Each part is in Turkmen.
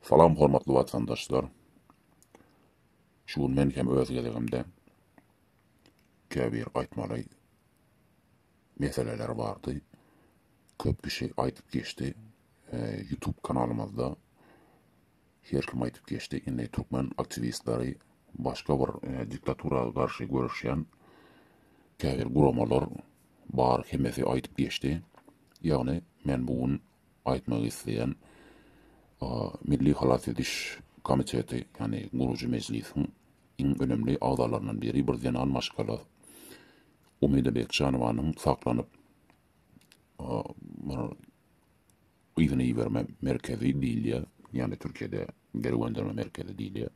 Salam hormatly watandaşlar. Şu gün men hem öz gezegimde käbir aýtmaly meseleler bardy. Köp kişi aýdyp geçdi. E, YouTube kanalymyzda her kim aýdyp geçdi. Indi türkmen aktiwistleri başga bir e, diktatura garşy göreşýän käbir guramalar bar hemmesi aýdyp geçdi. Ýagny men bu gün aýtmak isleýän Milli halas ediş komiteti, ýagny gurujy mejlisiň iň önemli agzalaryndan biri, bir zenan maşgala Umida Bekjanowanyň saklanyp yzyna iberme merkezi diýilýär, ýagny Türkiýede geri gönderme merkezi diýilýär.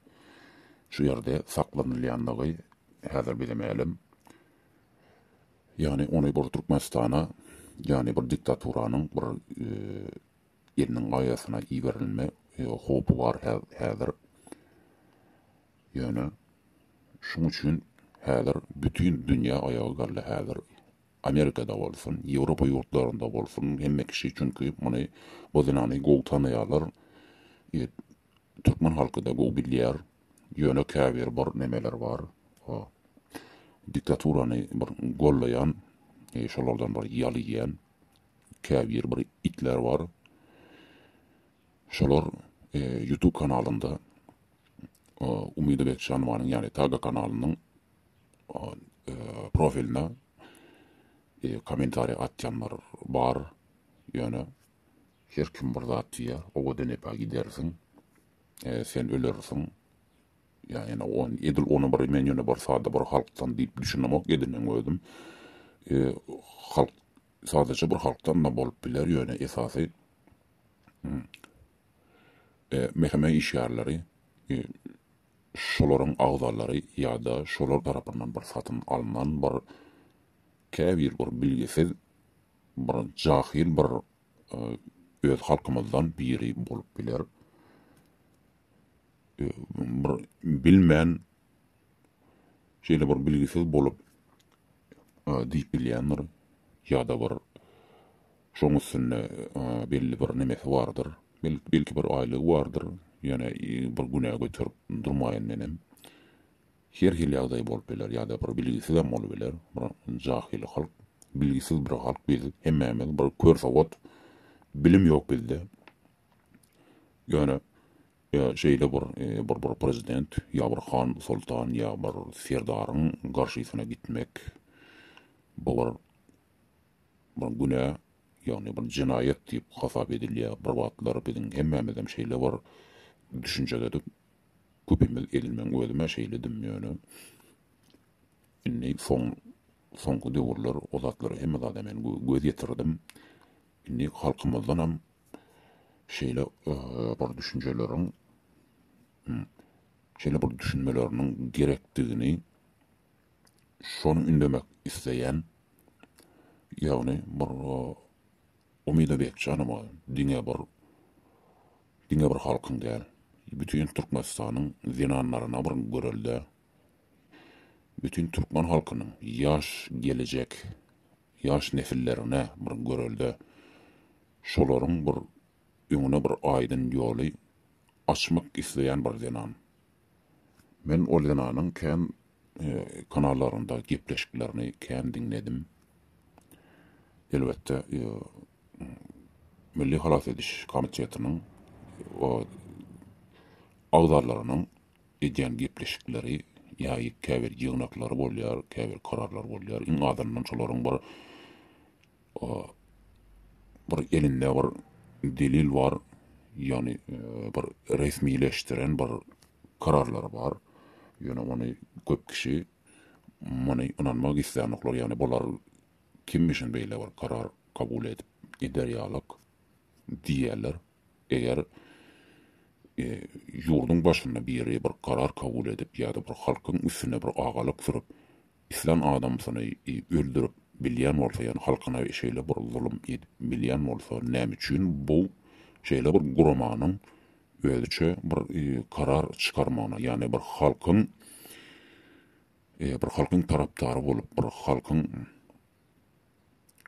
Şu ýerde saklanylýandygy häzir bize mälim. Ýagny ony bir Türkmenistana, ýagny bir diktaturanyň bir eliniň gaýasyna iberilme howpy bar häzir. Ýöne şuň üçin häzir bütin dünýä aýaga galdy häzir. Amerikada bolsun, Ýewropa ýurtlarynda bolsun, hemme kişi çünki muny bu zenany gowy tanaýarlar. Türkmen halky-da gowy bilýär, Ýöne käbir bir nemeler bar. O diktaturany bir gollaýan, şolardan bir ýal iýýän käbir bir itler bar. Şolar YouTube kanalynda Umyda Bekjanowanyň, ýagny Taga kanalynyň profiline kommentariýa atýanlar bar. Ýöne her kim bir zat diýýär, owadan epe gidersiň. E, sen ölersiň. Ýa ene on, edil ona bir men ýöne bir sada bir halkdan diýip düşünemok edinem özüm. E, halk sadaja bir halkdan da bolup biler ýöne esasy hmm, e, meheme işgärleri e, şolaryň agzalary ýa-da şolar tarapyndan bir satyn alnan bir käbir bir bilgisiz bir jahil bir öz halkymyzdan biri bolup biler. Bir bilmän şeýle bir bilgisiz bolup diýip bilýändir ýa-da bir şoň üstünde belli bir nemesi bardyr. Belki bir aýlygy bardyr, ýöne bir günä göterip durmaýan menem. Her hili ýagdaý bolup biler ýa-da bir bilgisizem bolup biler bir jahyl halk bilgisiz bir halk biz hemmämiz bir kör sowat bilim ýok bizde ýöne şeýle bir bir bir prezident ýa bir han soltan ýa bir serdaryň garşysyna gitmek bu bir bir günä ýagny bir jenaýat diýip hasap edilýär bir wagtlar biziň hemmämizem şeýle bir düşünjededik Köpimiz edil meň özümä şeýledim ýöne indi soň soňky döwürler o zatlara hemme zada men göz ýetirdim. Indi halkymyzdanam şeýle bir düşünjeleriň şeýle bir düşünmeleriniň gerekdigini şony ündemek isleýän ýagny bir Umyda Bekjanowa diňe bir Diňe bir halkyň däl, bütin Türkmenistanyň zenanlaryna bir görelde, bütin türkmen halkynyň ýaş gelejek ýaş nesillerine bir görelde, şolaryň bir öňüne bir aýdyn ýoly açmak isleýän bir zenan. Men ol zenanyň kän kanallarynda gepleşiklerini kän diňledim. Elbetde Milli halas ediş komitetiniň agzalarynyň edýän gepleşikleri ýa käbir ýygnaklary bolýar, käbir kararlar bolýar. Iň azyndan şolaryň bir bir elinde bir delil bar, ýagny bir resmileşdiren bir kararlary bar. Ýöne ony köp kişi muny ynanmak islänoklar, ýagny bular kimmişin beýle bir karar kabul edip gider ýalak diýýärler. Eger ýurduň başynda biri bir karar kabul edip ýa-da bir halkyň üstüne bir agalyk sürüp, Islan adamsyny öldürip bilýän bolsa ýani halkyna şeýle bir zulum edip bilýän bolsa näme üçin bu şeýle bir guramanyň özüçe bir karar çykarmagyna ýani bir halkyň bir halkyň tarapdary bolup bir halkyň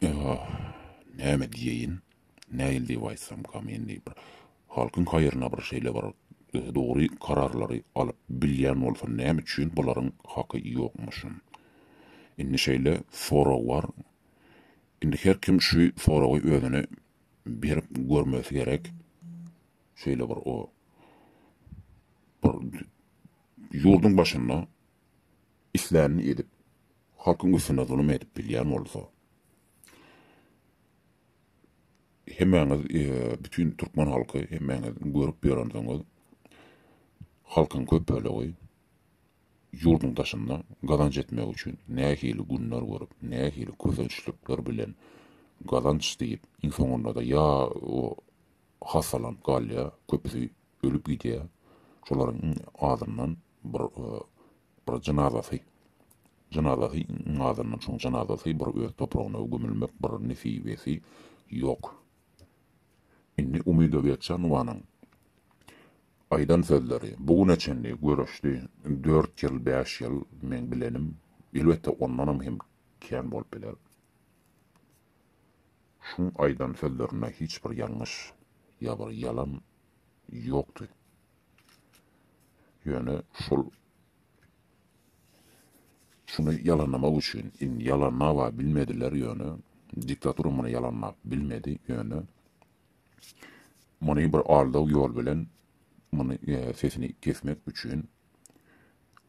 Aah, näme diýeýin? Nähili diýip aýtsamkam indi? Bir halkyň haýryna bir şeýle bir dogry kararlary alyp bilýän bolsam, näme üçin bularyň haky ýokmuşyn? Indi şeýle sorag bar. Indi her kim şu soragy özüne berip görmesi gerek. Şeýle bir o bir ýurduň başynda islänini edip, halkyň üstüne zulum edip bilýän bolsa, hemmäňiz, bütin türkmen halky, hemmäňiz görüp ýörensiňiz, halkyň köp bölegi ýurduň daşynda gazanç etmek üçin nähili günler görüp, nähili kösençlikler bilen gazanç diýip, iň soňunda-da ýa hassalanyp galýar, köpüsi ölüp gidýär, şolaryň azyndan bir bir jynazasy jynazasy ňazyndan şoň jynazasy bir öz topragyna gömülmek bir nesibesi ýok indi umyda geçe nuwanyň aýdan sözleri bu güne çenli göreşdi dört ýyl bäş ýyl meň bilenim elbetde ondanam hem kän bolup biler şuň aýdan sözlerinde hiç bir ýalňyş ýa bir ýalan ýokdy. Ýöne şol şuny ýalanlamak üçin indi ýalanlaba bilmediler ýöne diktatura muny ýalanlap bilmedi ýöne muny bir aldaw ýol bilen muny e, sesini kesmek üçin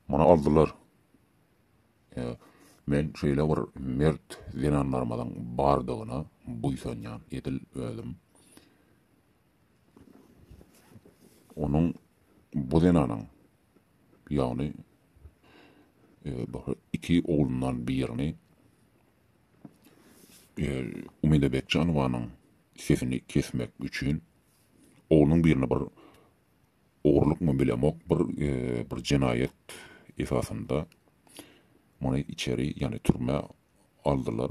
muny aldylar. E, men şeýle bir mert zenanlarymyzyň bardygyna buýsanýan edil özüm. Onuň bu zenanyň, ýagny iki oglundan birini Umyda Bekjanowanyň sesini kesmek üçin, oglunyň birini bir ogrulykmy bilemok, bir bir jenaýat esasynda muny içeri, ýagny türmä aldylar.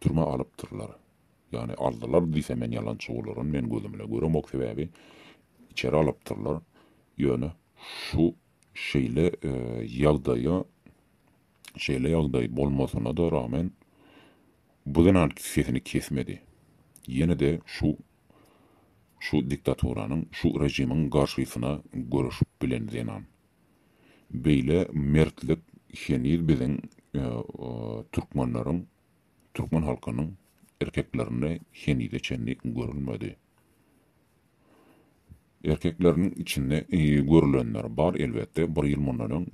Türmä alypdyrlar. Ýagny aldylar diýsem men ýalançy bolaryn, men gözümle göremok sebäbi içeri alypdyrlar. Ýöne şu şeýle ýagdaýa şeýle ýagdaý bolmasyna-da ragmen bu zenan sesini kesmedi. Ýene-de şu şu diktaturanyň, şu režimiň garşysyna göreşip bilen zenan. Beýle mertlik heniz biziň türkmenleriň Türkmen halkynyň erkeklerinde henize çenli görülmedi. Erkekleriniň içinde görülenler bar elbetde, bir ýyl mundan öň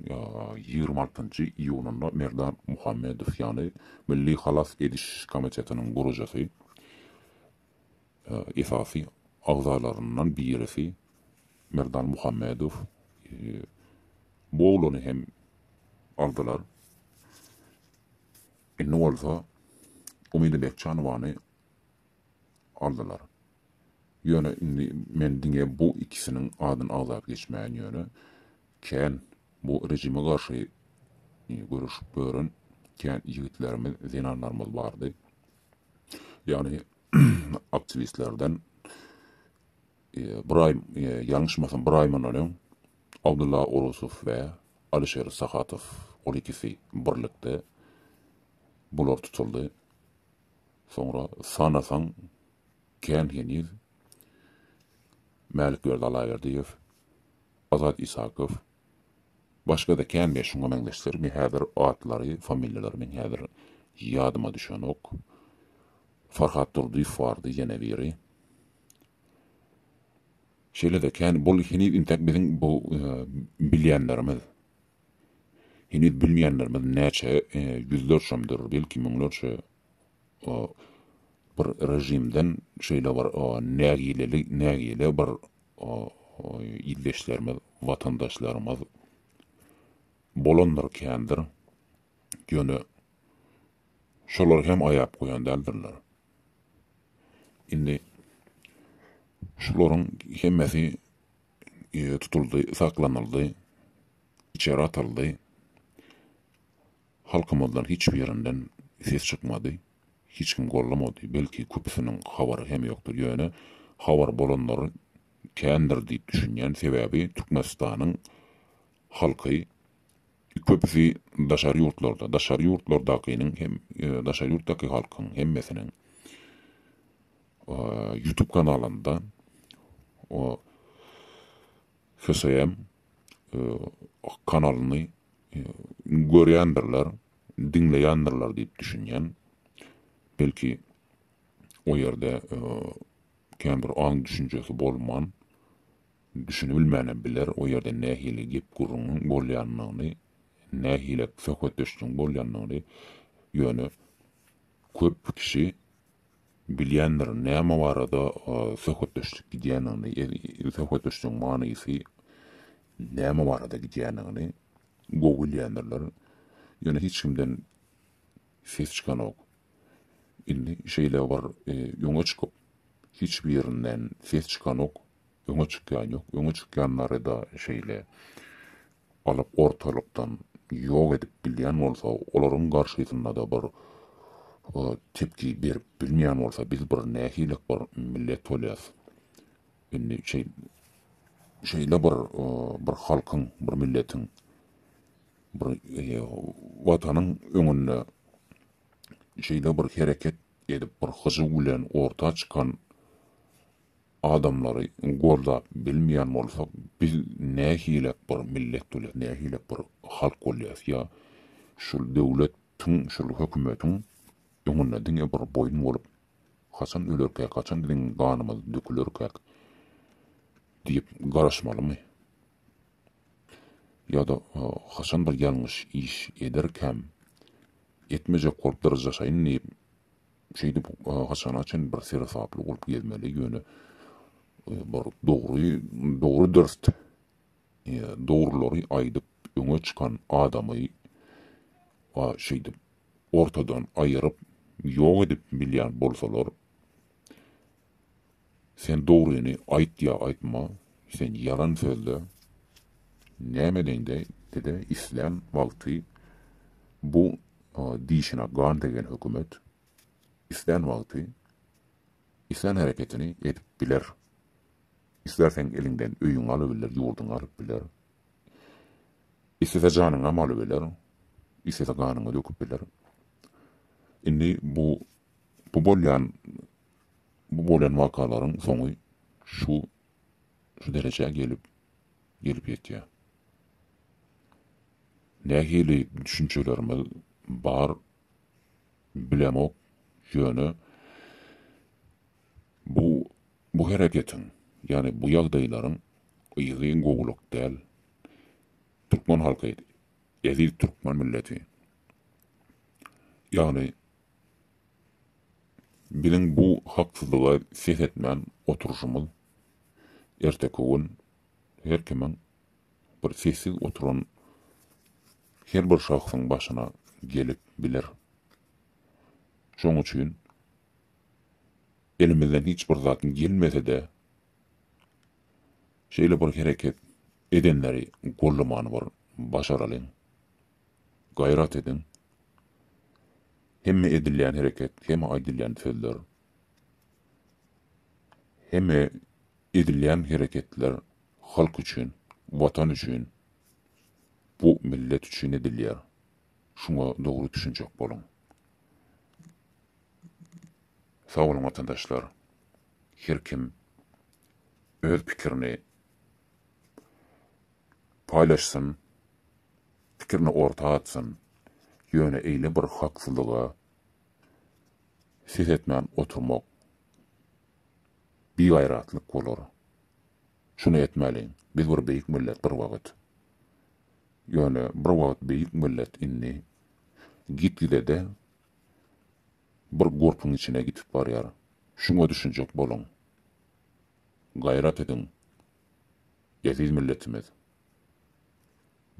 ýigrimi altynjy iýunynda Merdan Muhammedow ýaly Milli halas ediş komitetiniň gurujysy, esasy agzalaryndan birisi Merdan Muhammedow bu oglany hem aldylar. Indi bolsa Umyda Bekjanowany aldylar. Ýöne indi men diňe bu ikisiniň adyny agzap geçmäýin ýöne kän bu rejime garşy göreşip ýören kän ýigitlerimiz, zenanlarymyz bardy. Ýagny aktiwistlerden Bir aý, ýalňyşmasam bir aý mundan öň Abdylla Orusow we Alişer Sahatow ol ikisi birlikde bular tutuldy. Soňra sanasaň kän heniz Mälikberdi Allaberdiýew, Azat Isakow, başga-da kän we şuňa meňzeşler me häzir atlary, familiýalary meň häzir ýadyma düşenok. Farhat Durdyýew bardy ýene biri. Şeýle-de kän bol heniz intäk biziň bu bilýänlerimiz, heniz bilmeýänlerimiz näçe ýüzlerçemdir, belki müňlerçe bir režimden şeýle bir nägileli, nägile bir ildeşlerimiz, watandaşlarymyz bolandyr kändir, ýöne şolar hem aýap goýan däldirler. Indi şularyň hemmesi tutuldy, saklanyldy, içeri atyldy. Halkymyzdan hiç birinden ses çykmady. Hiç kim gollamady. Belki köpüsiniň habary hem ýokdur. Ýöne habar bolanlary kändir diýip düşünýän. Sebäbi Türkmenistanyň halky Köpüsi daşary ýurtlarda, daşary ýurtlardakynyň hem, daşary ýurtdaky halkyň hemmesiniň YouTube kanalynda o HSM kanalyny görýändirler, diňleýändirler diýip düşünýän. Belki o ýerde kän bir aň düşünjesi bolman, Düşünibilmänem biler o ýerde nähili gep-gürrüňiň bolýanyny, nähilek söhbetdeşligiň bolýanyny, ýöne köp kişi bilýändir näme barada söhbetdeşlik gidýänini, söhbetdeşligiň manysy näme barada gidýänini gowy bilýändirler, ýöne hiç kimden ses çykanok. Indi şeýle bir öňe çykyp, hiç birinden ses çykanok, Öňe çykýan ýok. Öňe çykýanlary-da şeýle alyp ortalykdan ýok edip bilýän bolsa, olaryň garşysynda-da bir tepki berip bilmeýän bolsa, biz bir nähilek bir millet bolýas. Indi şeý şeýle bir bir halkyň, bir milletiň, bir Watanyň öňünde şeýle bir hereket edip, bir hyjuw bilen orta çykan adamlary goldap bilmeýän bolsak biz nähilek bir millet bolýas nähilek bir halk bolýas ýa şul döwlet tiň şul hökümetiň öňünde diňe bir boýun bolup haçan ölerkäk haçan biziň ganymyz dökülerkäk diýip garaşmalymy ýada haçan bir ýalňyş iş ederkäm etmejek bolup dyrjaşaýyn diýip Şeýdip, haçana çyn bir seresaply bolup gezmeli, ýöne bir dogry, dogry dürst dogrulary aýdyp öňe çykan adamy şeýdip ortadan aýyryp ýok edip bilýän bolsalar, Sen dogryny aýt ýa aýtma, sen ýalan sözle. Näme deňde dede islän wagty bu dişine gan degen hökümet islän wagty islän hereketini edip biler. Islerseň eliňden öýüňi alybiler ýurduňy alyp biler. Islese janyňam alybiler, islese ganyňy döküp biler. Indi bu bu bolýan Bu bolan wakalaryň soňy şu şu derejä gelip gelip ýetýär. Nähili düşünjelerimiz bar bilemok, ýöne bu bu hereketiň, ýagny bu ýagdaýlaryň yzy gowulyk däl. Türkmen halky, eziz türkmen milleti, ýagny Biziň bu haksyzlyga ses etmän oturyşymyz erteki gün her kimiň bir sessiz oturan her bir şahsyň başyna gelip biler. Şoň üçin elimizden hiç bir zat gelmese-de şeýle bir hereket edenleri gollaman bir başaralyň. Gaýrat ediň! Hemme edilýän hereket, hemme aýdylýan sözler, hemme edilýän hereketler halk üçin, Watan üçin, bu millet üçin edilýär. Şuňa dogry düşünjek boluň. Sag boluň watandaşlar! Her kim öz pikirini. paýlaşsyn, pikirini orta atsyn, ýöne eýle bir haksyzlyga ses etmän oturmak bigaýratlyk bolar. Şuny etmäliň, biz bir beýik millet bir wagt. Ýöne bir wagt beýik millet indi gitgide-de bir gurpuň içine gitip barýar. Şuňa düşünjek boluň. Gaýrat ediň. Eziz milletimiz.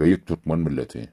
Beýik türkmen milleti.